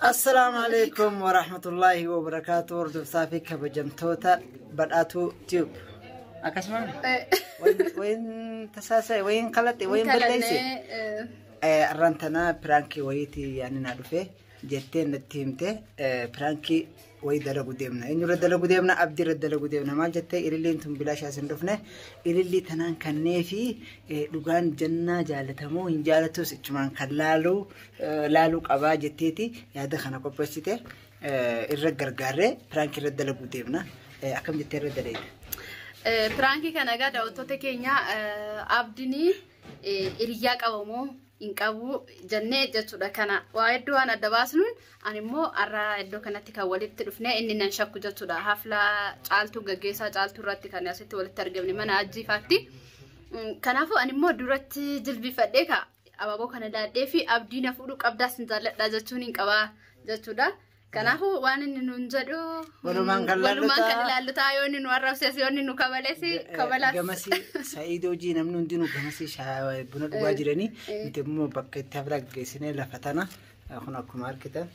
Assalaamu alaikum wa rahmatullaahi wa barakaatu hordoftaa fi kabajamtoota badhaatuu tube. Akkasuma wayin tasaasa'e wayin kalaxe wayin balleesse arraan tanaa piraankii wayiitii yaani naa dhufe jettee natti himte piraankii way dalagu deemna eenyurra dalagu deemna abdirra dalagu deemna maal jettee ililliin tun bilaashaa sin dhufne ilillii tanaan kannee fi dhugaan jannaa jaalatamoo hin jaalatus ichumaan kan laaluu laaluu qabaa jetteeti yaada kana qopheessite irra gargaarree piraanki irra dalagu deemna akkam jettee irra daleeta. Piraankii kana egaa daawwattoota keenya abdinii hiriyaa qabamoo hin qabu jennee jechuudha kana waa hedduu waan adda baasnuun ani immoo har'a iddoo kanatti kan walitti dhufne inni nan shakku jechuudha hafla caaltuu gaggeessaa caaltuu irratti kan asitti walitti argamne mana ajjiifaatti kanaafuu ani immoo duratti jilbifadhee ka abaaboo kana daadhee fi abdii na fuudhuu qabdaa sin jaalladhaa jechuun hin qabaa jechuudha Kanaafuu waan inni nuun jedhu Walumaan kan laallu walumaan kan ta'a. ilaallu ta'a yoo inni nu arrabses yoo inni nu kabales kabalas. Gamasii Sa'iid hojii namni hundinuu gamasii shaayii buna dhugaa jiranii nuti immoo bakka itti hafla geessinee lafa tana eh, kun akkuma argitan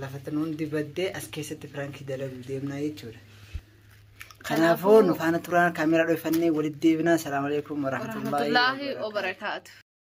lafa tana hundi baddee as keessatti firaankii dalaguu deemnaa jechuudha. Kanaafuu nu faana turaan kaameeraa dhoofannee walitti deebinaa. Salaamu alaikum warahmatullaahi Warahmatullaahi wabarakaatuh. wabarakaatu.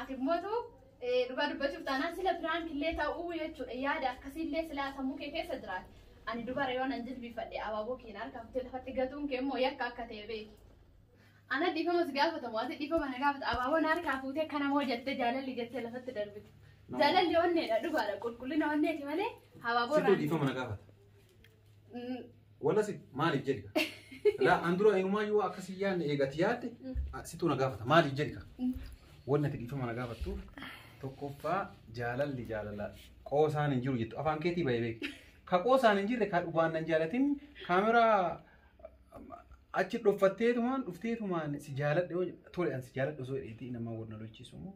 Ati immoo tu dhugaa dubbachuuf taanaan sila piraank illee ta'uu jechuudha yaada akkasii illee silaa sammuu kee keessa jiraate. Ani dubara yoo nan jilbiifadhe abaaboo keen harkaafte lafatti gatuun kee immoo yakka akka ta'e beeki. Ana dhiifama si gaafatamu ati dhiifama na gaafata abaaboo na harkaa fuutee kana moo jettee jaalalli jettee lafatti darbite. Jaalalli onneedha dhugaadha qulqullina onneeti malee abaaboo Situ irraa. dhiifama na gaafata. Wala si maaliif jedhi ka? Laa an dura inumaa yoo akka si yaadne eegati yaadde a- situ na gaafata maaliif jedhi ka? Wanni ati dhiifama na gaafattuuf tokkoffaa jaalalli jaalala qoosaan hin jiru jettu afaan keetii bahee beeku. Ka qoosaan hin jirre ka dhugaan nan jaalatin kaameraa achi dhoffatteetumaan dhufteetumaan si jaaladhe yoo jedhe, tole an si jaaladhe osoo jedheetii namaa wal na lolchiisu immoo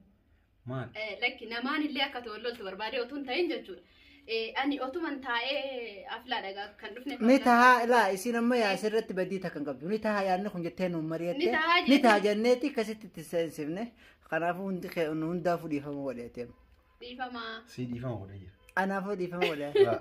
Maal? Eh, lakki namaan illee akka ta'u loltu barbaadee otuun ta'in jechuudha. Eh, Ani otuman taa'ee aflaa dhagaa kan dhufne. ni tahaa laa isiin amma yaa asirratti badii takka hin qabdu ni tahaa yaadni kun jettee nuun Ni mari'atte tahaa ni tahaa jettee. jenneeti akkasitti itti seensifne kanaafuu hundi kee hundaafuu dhiifama godheeteem Dhiifamaa. Sii dhiifama godhee jira. anaafuu dhiifama godhee Laa.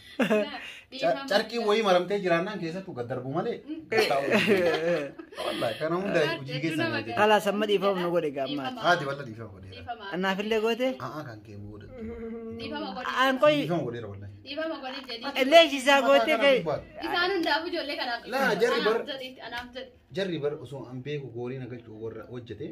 Carqii wayii maramtee jiraannaan keessattuu gad darbu malee. Wallaahi kana hunda hojii keessa na jedhe. Kalaas amma dhiifama nu godhe gaammaati. Haati bal'aa dhiifama godheera. Annaafillee goote Haa kan kee booda. aan qoyi Dhiifama godheera wallaahi. illee ishisaa goote kee Isaan hundaaf ijoollee kanaaf. Laa, jarri bar- Anaaf jedhe. Jarri bara osoo an beeku goorina galchuu warra hojjetee.